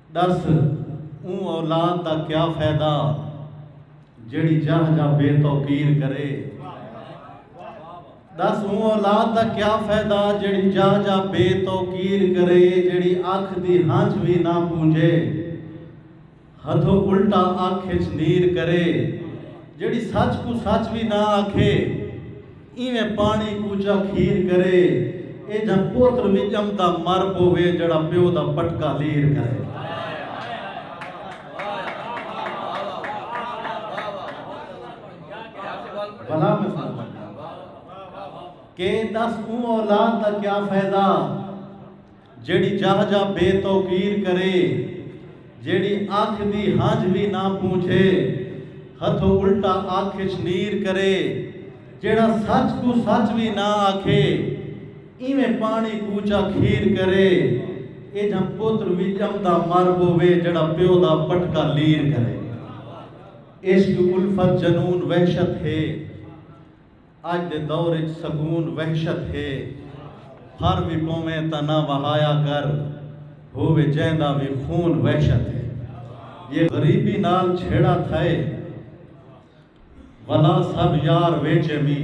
ݙس اوں اولاد دا کیا فیدہ جیڑھی جاہ جاہ بے توقیر کرے ݙس اوں اولاد دا کیا فیدہ جیڑھی جاہ جاہ بے توقیر کرے جیڑھی اکھ دی ہنجھ وی نہ پونجے ہتھوں الٹا اکھ اچ نیر کرے جیڑھی سچ کوں سچ وی نہ آکھے اینویں پاݨی کوچا کھیر کرے اے جھاں پوتر وی ڄمدا مر پووے جیڑھا پیو دا پٹکا لیر کرے۔ بھلا میں سݙ بھڄاں کہ ݙس اوں اولاد دا کیا فیدہ۔ جیڑھی جاہ جاہ بے توقیر کرے۔ جیڑھی آکھ دی ہنجھ وی نہ پونجھے۔ ہتھوں الٹا آکھ اچ نیر کرے۔ جیڑھا سچ کوں سچ وی نہ آکھے۔ ایویں پاݨی کوچا کھیر کرے۔ ایجھاں پتر وی ڄمدا مر ٻووے جیڑھا پیو دا پٹکا لیر کرے۔ عشق الفت جنون وحشت ہے۔ اج دے دور اچ سکون وحشت ہے پھر وی پوویں تاں نہ وہایا کر ہووے جیندا وی خون وحشت ہے یہ غریبی نال چھیڑا تھئے ولا سب یار ویچے می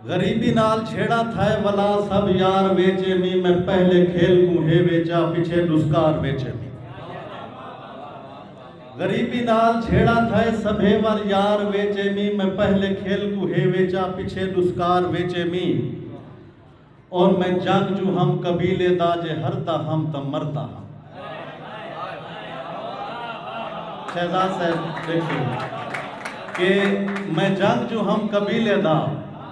غریبی نال چھیڑا تھئے ولا سب یار ویچے می میں پہلے کھیل کوں ہے ویچا پچھے دسکار ویچے می غریبی نال جھیڑا تھئے سبھے ور یار ویچے میں میں پہلے کھیل کوں ہے ویچا پچھے ڈسکار ویچے میں اور میں جنگ جو ہم قبیلے دا جے ہردا ہم تاں مردا ہم شہزاد صاحب دیکھیں کہ میں جنگ جو ہم قبیلے دا